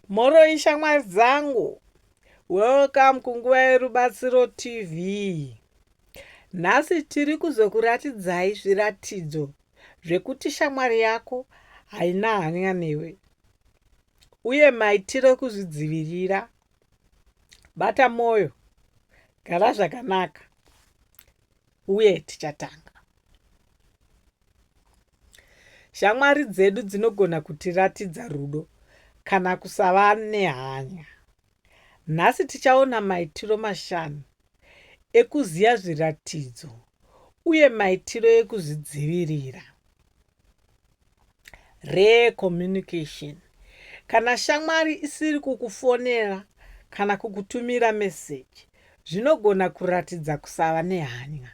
Mhoroi shamwari dzangu, welcome kunguva yerubatsiro TV. Nhasi tiri kuzokuratidzai zviratidzo zvekuti shamwari yako haina hanya newe uye maitiro ekuzvidzivirira. Bata mwoyo, gara zvakanaka. uye tichatanga. Shamwari dzedu dzinogona kutiratidza rudo kana kusava nehanya. Nhasi tichaona maitiro mashanu ekuziva zviratidzo uye maitiro ekuzvidzivirira. Rare communication. Kana shamwari isiri kukufonera kana kukutumira meseji zvinogona kuratidza kusava nehanya.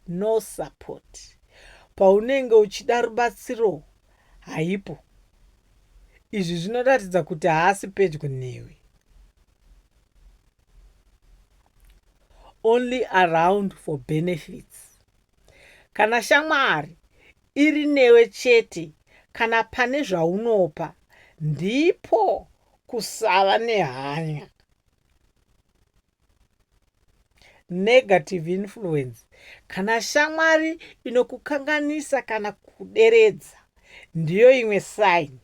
No support. Paunenge uchida rubatsiro haipo. Izvi zvinoratidza kuti haasi pedyo newe. Only around for benefits. Kana shamwari iri newe chete kana pane zvaunopa ndipo kusava nehanya. Negative influence. Kana shamwari inokukanganisa kana kuderedza ndiyo imwe sign.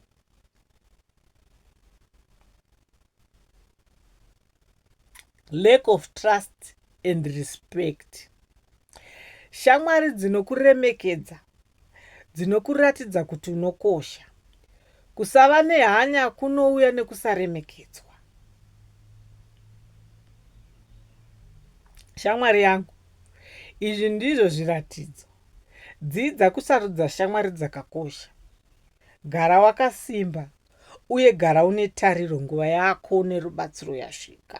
lack of trust and respect shamwari dzinokuremekedza dzinokuratidza kuti unokosha kusava nehanya kunouya nekusaremekedzwa shamwari yangu izvi ndizvo zviratidzo dzidza kusarudza shamwari dzakakosha gara wakasimba Uye gara une tariro, nguva yako nerubatsiro yasvika.